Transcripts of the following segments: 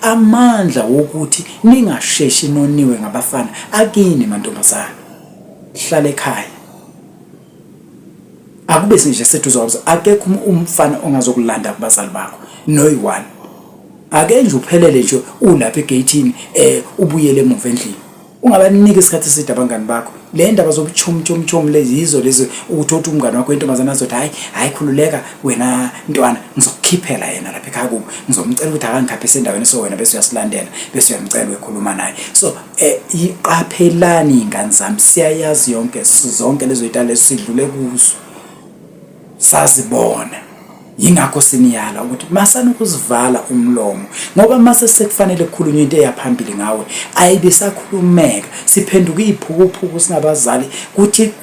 amandla wokuthi ningasheshi noniwe ngabafana akini mantombazana hlala ekhaya akube sinje seduze wabza akekho um-, umfana ongazokulanda kubazali bakho noyiwani ake nje uphelele nje ulapha egeyithini eh ubuyele emuva endlini Ungabaniki isikhathi eside abangani bakho. Le ndaba zobuchumchumchum lezi yizo lezi ukuthi othi umngani wakho intombazana azothi hayi hayi khululeka wena ntwana ngizokukhiphela yena lapha ekhaya kubo ngizomcela ukuthi akangikhaphe sendaweni so wena bese uyasilandela bese uyamcela ukhuluma naye. So eh iqaphelani ingane zami siyayazi yonke zonke lezo itale sidlule kuzo. Sazibona. Yingakho siniyala ukuthi masana ukuzivala umlomo ngoba mase sekufanele kukhulunywe into eyaphambili ngawe ayibe sakhulumeka siphenduka iziphukuphuku singabazali kuthi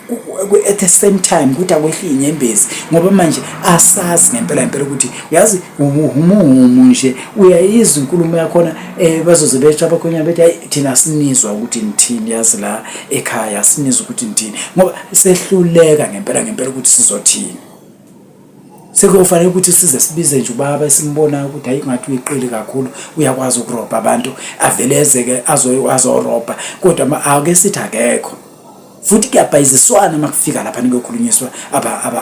at the same time kuthi akwehli inyembezi ngoba manje asazi ngempela impela ukuthi uyazi umuhumu nje uyayizwa inkulumo yakhona eh bazoze betsha bakhonya bethi hayi thina sinizwa ukuthi nithini yazi la ekhaya sinizwa ukuthi nithini ngoba sehluleka ngempela ngempela ukuthi sizothini sekuyofanele ukuthi size sibize nje ubaba esimbonayo ukuthi hayi ngathi uyiqili kakhulu uyakwazi ukurobha abantu avele ezeke azorobha kodwa ake sithi akekho futhi kuyabhayiziswana uma kufika lapha nikuyokhulunyiswa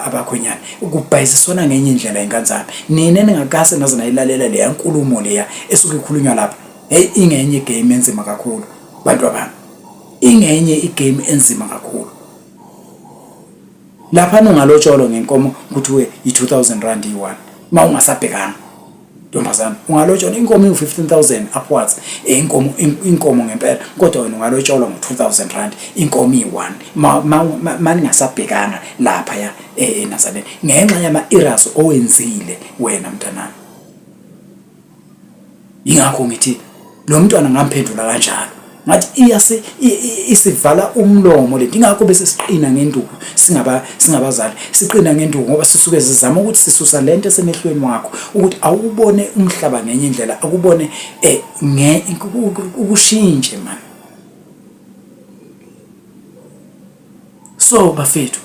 abakhwenyana kubhayiziswana ngenye indlela ingane zami nina ningakase naze nayilalela leya nkulumo leya esuke ikhulunywa lapha heyi ingenye igame enzima kakhulu bantu abami ingenye igame enzima kakhulu lapha nungalotsholo ngenkomo kuthiwe yi-2000 rand iyi-one uma ungasabhekanga ntombazana ungalotsholo inkomo iwu-15000 upwards eh, inkomo inkomo ngempela kodwa wena ungalotsholo ngo-2000 rand inkomo iyi-one ma ningasabhekanga lapha ya e-, enazareni ngenxa yama-eras owenzile wena mntanami yingakho ngithi lo mntwana ngamphendula kanjalo ngathi iyase isivala umlomo lento ingakho bese siqina ngenduku singaba singabazali siqina ngenduku ngoba sisuke sizama ukuthi sisusa lento esemehlweni wakho ukuthi awubone umhlaba ngenye indlela akubone eh nge ukushintshe manje so bafethu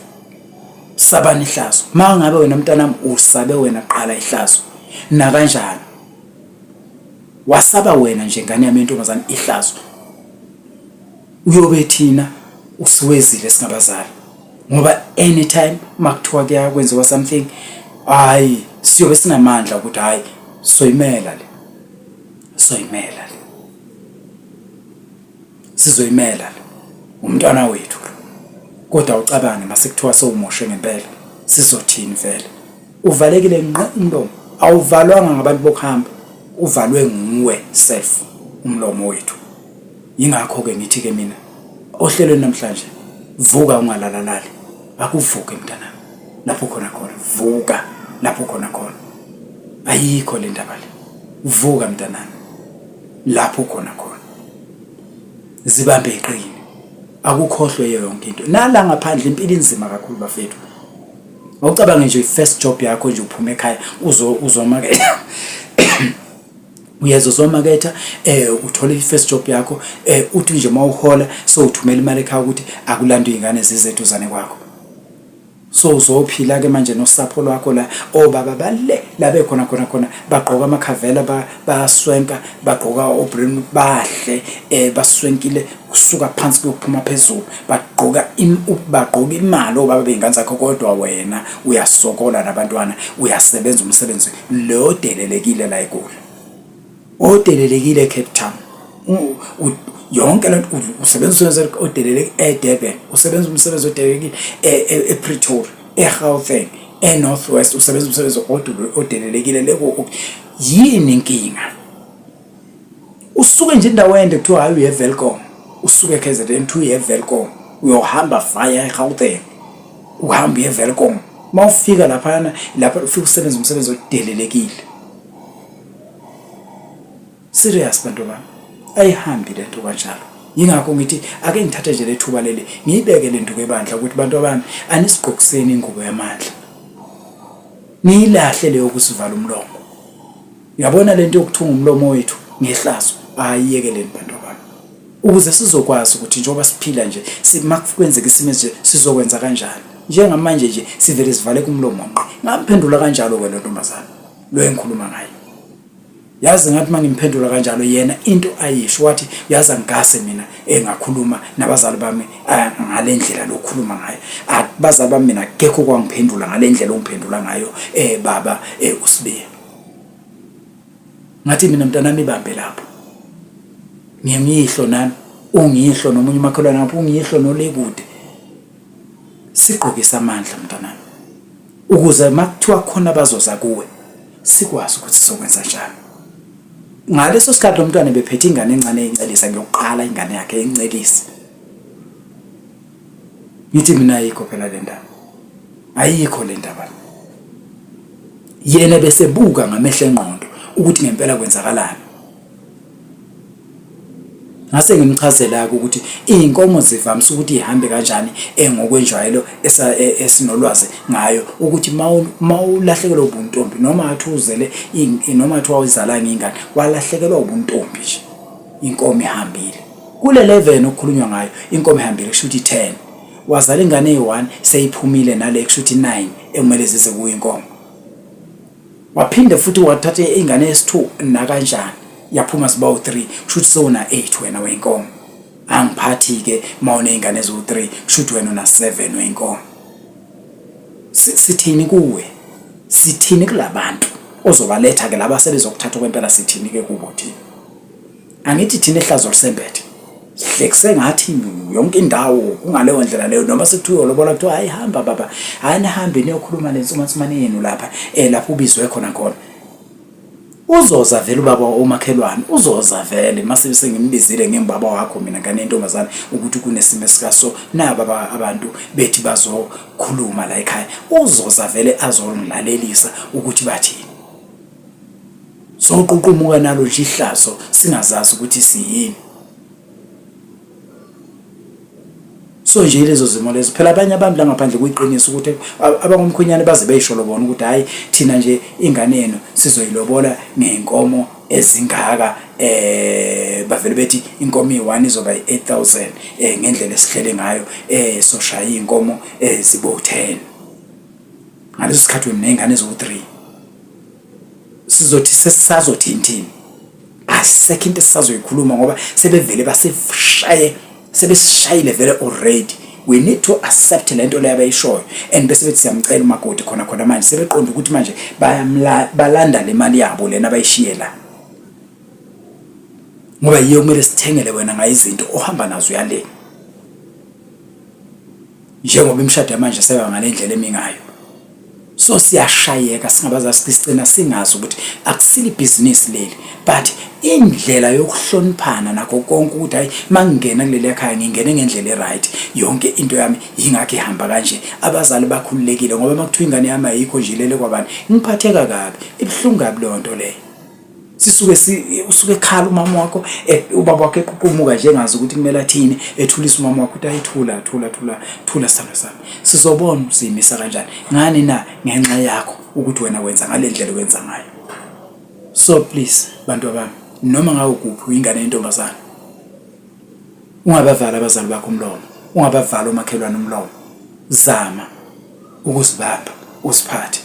sabani ihlazo uma ngabe wena mntanami usabe wena qala ihlazo nakanjani wasaba wena nje ngane yami yentombazane ihlazo uyobe thina usiwezile singabazali ngoba anytime makuthiwa kuyakwenziwa something hayi siyobe sinamandla ukuthi hayi soyimela le soyimela sizoyimela le umntwana wethu kodwa ucabange masekuthiwa sowumoshe ngempela sizothini vele uvalekile nqe umlomo awuvalwanga ngabantu bokuhamba uvalwe nguwe self umlomo wethu yingakho ke ngithi ke mina ohlelweni namhlanje vuka ungalalalali akuvuke mntana lapho khona khona vuka lapho khona khona ayikho le ndaba le vuka mntanami lapho khona khona zibambe iqini akukhohlwe yonke into nala ngaphandle impilo inzima kakhulu bafethu ngocabanga nje first job yakho nje uphuma ekhaya uzo uzomaketha uyeza uzomaketha eh uthole i-first job yakho eh uthi nje mawuhola so uthumela imali ekhaya ukuthi akulandwe izingane zizethu zane kwakho so uzophila ke manje nosapho lwakho la obaba oh, bale labe khona khona khona bagqoka amakhavela bayaswenka bagqoka obrim bahle eh baswenkile kusuka phansi kuyophuma phezulu bagqoka bagqoka imali obaba oh, beyingane zakho kodwa wena uyasokola nabantwana uyasebenza umsebenzi lo delelekile la eGoli odelelekile eCape Town yonke le nto usebenza umsebenzi odeleleke eDurban usebenza umsebenzi odelelekile e, e, ePretoria eGauteng eNorth West usebenza umsebenzi odelelekile leko yini inkinga usuke nje indawo ende kuthiwa hayi uye Velcom usuke KZN to uye Velcom uyohamba via eGauteng uhamba uye Velcom mawufika lapha lapha ufika usebenza umsebenzi odelelekile Serious bantu bami. Ayihambi lento kanjalo. Yingakho ngithi ake ngithathe nje lethuba leli ngiyibeke lento kebandla ukuthi bantu abami anisigqokiseni ingubo yamandla. Niyilahle leyo kusivala umlomo. Yabona lento yokuthunga umlomo wethu ngehlazo ayiyekeleni bantu abami. Ukuze sizokwazi ukuthi njengoba siphila nje simakwenzeka isimo nje sizokwenza kanjani. Njengamanje nje sivele sivale kumlomo ngqi. Ngamphendula kanjalo ke lo ntombazana. lo engikhuluma ngayo yazi ngathi uma ngimphendula kanjalo yena into ayisho wathi yazi angigase mina engakhuluma nabazali bami ah, ngale ndlela lokhuluma ngayo abazali ah, bami mina kekho kwangiphendula ngale ndlela ongiphendula ngayo eh baba eh usibiya ngathi mina mntanami ibambe lapho ngiyimihlo nami ungihlo nomunye umakhelwane ngapha ungihlo nolekude sigqokisa amandla mntanami ukuze makuthiwa khona abazoza kuwe sikwazi ukuthi sokwenza njani ngaleso sikhathi lo mntwana bephethe ingane encane eyincelisa ngiyokuqala ingane yakhe eyincelisa ngithi mina ayikho phela le ndaba ayikho le ndaba yena besebuka ngamehlo engqondo ukuthi ngempela kwenzakalani ngase ngimchazela-ke ukuthi iy'nkomo zivamise ukuthi ihambe kanjani engokwenjwayelo e-, esinolwazi ngayo ukuthi uma ulahlekelwa ubuntombi noma athi uzele noma athi wawuzalanga ingane walahlekelwa ubuntombi nje inkomo ihambile kule 11 okukhulunywa ngayo inkomo ihambile kusho ukuthi 10 wazala ingane eyi-1 seyiphumile nale kusho ukuthi 9 ekumele zize kuyo inkomo waphinde futhi wathatha ingane yesithu nakanjani yaphuma sibawu 3 kushuthi sona 8 wena wenkomo angiphathi ke mawune ingane ezo 3 kushuthi wena una 7 wenkomo sithini kuwe sithini kulabantu ozobaletha ke laba sebezokuthatha kwempela sithini ke kubo thina angithi thina ehlazo lusembethe sihlekise ngathi yonke indawo kungaleyo ndlela leyo noma sekuthiwa lobola kuthiwa hayi hamba baba hayi nihambe niyokhuluma nensumansumane yenu lapha eh lapho ubizwe khona khona uzoza vele ubaba omakhelwane uzoza vele mase sengimbizile ngembaba wakho mina ngane intombazane ukuthi kunesimo esikaso na baba abantu bethi bazokhuluma la ekhaya uzoza vele azongilalelisa ukuthi bathini soququmuka nalo nje ihlazo singazazi ukuthi siyini so nje lezo zimo lezo phela abanye abantu la ngaphandle kuyiqiniso ukuthi abangomkhwenyane baze beyisho lobona ukuthi hayi thina nje ingane yenu sizoyilobola ngenkomo ezingaka eh bavele bethi inkomo iyi1 izoba i8000 eh ngendlela esihlele ngayo eh soshaya inkomo eh zibo 10 ngaleso sikhathi wena ney'ngane eziwu-three sizothi sesisazothinthini asisekho into esisazoyikhuluma ngoba sebevele baseshaye sebesishayile vele already we need to accept le nto leyo abayishoyo and bese bethi siyamcela umakoti khona khona manje sebeqonda ukuthi manje balanda le mali yabo lena abayishiye la ngoba yiyo kumele sithengele wena ngayo izinto ohamba nazo uyaleni njengoba imishado yamanje seba ngale ndlela emi ngayo so siyashayeka singabaza sicina singazi ukuthi akusile ibhizinisi leli but indlela yokuhloniphana nakho konke ukuthi hayi mangingena kuleli ekhaya ngingene ngendlela eright yonke into yami yingakho ihamba kanje abazali bakhululekile ngoba makuthiwa ingane yami ayikho nje lele kwabani ngiphatheka kabi ibuhlungu kabi leyo nto leyo sisuke usuke ekhala umama wakho e, ubaba wakho eqhuqhumuka nje engazi ukuthi kumele athini ethulisa umama wakho ukuthi ayithula thula thula thula sithando sami sizobona usiyimisa kanjani ngani na ngenxa yakho ukuthi wena wenza ngale ndlela wenza ngayo so please bantu abami noma ngawo kuphi uyingane yentombazana ungabavala abazali bakho umlomo ungabavala omakhelwane umlomo zama ukuzibamba usiphathe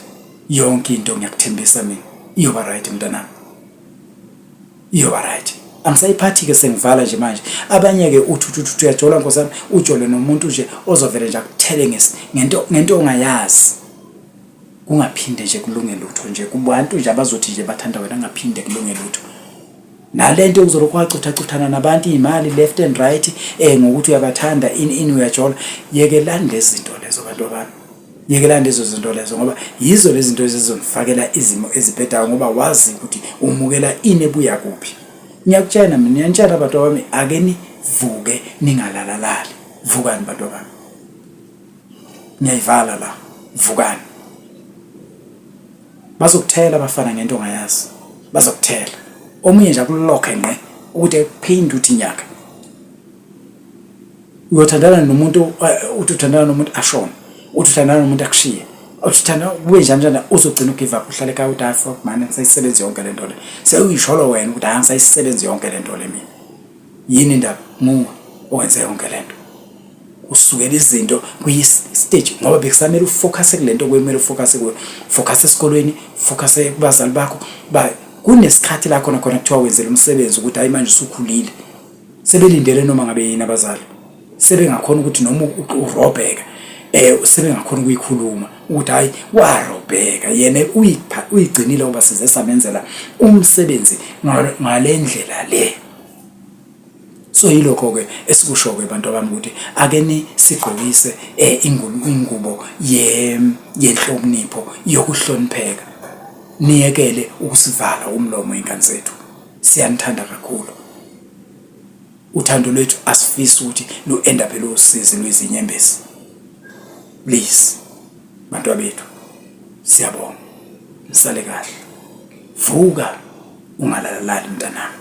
yonke into ngiyakuthembisa mina iyoba right mntanami iyoba right angisayiphathi-ke sengivala nje manje abanye-ke uthuthuthuthu uyajola nkosi yami ujole nomuntu nje ozovele nje akuthele ngento ngento ongayazi kungaphinde nje kulunge lutho nje kubantu nje abazothi nje bathanda wena kungaphinde kulunge lutho nale nto uzolokhu wacuthacuthana nabantu iy'mali left and right um ngokuthi uyabathanda ini ini uyajola yekelani lezi zinto lezo bantu abantu Yekelani lezo zinto lezo ngoba yizo lezi zinto ezizonifakela izimo ezibhedayo ngoba wazi ukuthi umukela ini ebuya kuphi. Ngiyakutshena mina ngiyanitshela abantu bami ake nivuke ningalalalali. Vukani bantu bami. Ngiyayivala la. Vukani. Bazokuthela abafana ngento ongayazi. Bazokuthela. Omunye nje akulokhe ngqe ukuthi ekuphinde uthi nyaka uyothandana nomuntu eh, uthi uthandana nomuntu ashona uthi uthandana nomuntu akushiye uthi uthanda kube njani njani uzogcina ugive up uhlale ekhaya ukuthi hayi fuck mani ngisayisebenzi yonke le nto le sewuyisholo wena ukuthi hayi ngisayisebenzi yonke le nto le mina yini indaba nguwe owenze yonke le nto usukela izinto kuyi-stage ngoba bekusamele ufocuse kule nto kwemele ufocuse kuyo focuse esikolweni focuse kubazali bakho kunesikhathi la khona khona kuthiwa wenzela umsebenzi ukuthi hayi manje usukhulile sebelindele noma ngabe yini abazali sebengakhona ukuthi noma urobheka eh sebengakhona ukuyikhuluma ukuthi hayi warobheka yena uyigcinile ngoba size samenzela umsebenzi ngalendlela le so yilokho ke esikusho ke abantu abami ukuthi ake ni sigqokise eh, ingubo ye yenhlonipho yokuhlonipheka niyekele ukusivala umlomo ingane zethu siyanithanda kakhulu uthando lwethu asifisi ukuthi lu-enda phela usizi lwezinyembezi please bantwa bethu siyabonga nisale kahle vuka ungalalali mntanami